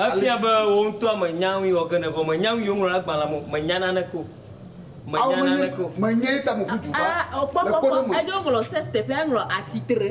Efia be wò ŋutɔa mènya nu yi wɔ ge ne vɔ mènya nu yi woŋlɔ ɖe agbalẽa me o, mènya naneke o, mènya naneke o. A O kpɔ, kpɔ, kpɔ, eɖo woŋlɔ sex teƒea, eŋlɔ atsitre.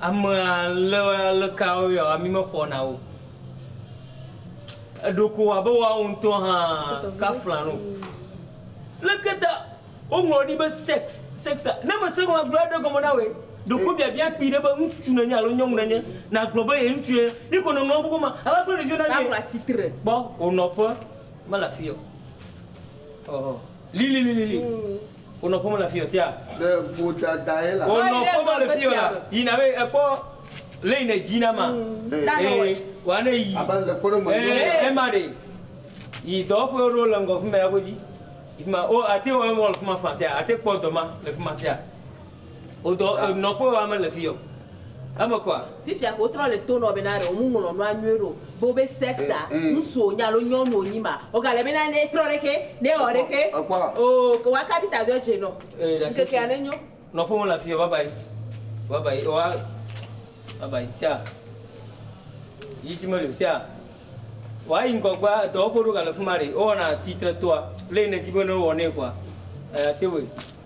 Amea le aleka woyɔa mi mexɔna o. Eɖo ko abe woawo ŋutɔ hã kafla nu. Leke ta woŋlɔ ɖi be sex sex a? Ne mese nu agblɔ aɖe gɔme na wòe. Ɖeko biabia kpui ɖe be ŋutsu nènye alo nyɔnu nènye nàgblɔ be ye ŋutsu ye. Ye ko nèŋlɔ nu be ava kple ɖeviwo na mí. Kpɔ wò nɔƒe mele afi ye o. Ɔhɔ lilililili. Wonɔ ƒome le afiyɔ sia. Le vodadae la. Wonɔ ƒome le fiyɔ la. Yi na be ekpɔ leyi ne dzi na ma. Ee, wa ne yi. Abe le kpɔɖe me. Ee, ema ɖe. Yi dɔwɔƒe ɖewo le ŋgɔ fima ya godzi. Fima, o ate wɔ emɔ le fima fã sia. Ate kpɔ dɔ ma le fima sia. Wodɔ e nɔƒe wa mele fi yɔ eme kɔa. Fifia ke wotrɔ le to nɔ be na ɖe womu ŋlɔ nua nyuie ɖeo be wobe sex a ŋsu wonye alo nyɔnu wonyi ma woga le be na ne etrɔ ɖe xe ne ewɔ ɖe xe ooh ke wa kaɖi ta do edze nɔ ŋkekea ne nyo. Nɔƒe mele afi yɔ babayi babayi ewa babayi sia yi tsi meli o sia wa yi ŋgɔgbea edɔwɔƒe ɖo ga le fima ɖe ewɔna tsi tre toa le yi ne dzi be ne ewɔ nɛ kɔa eya te wɔe.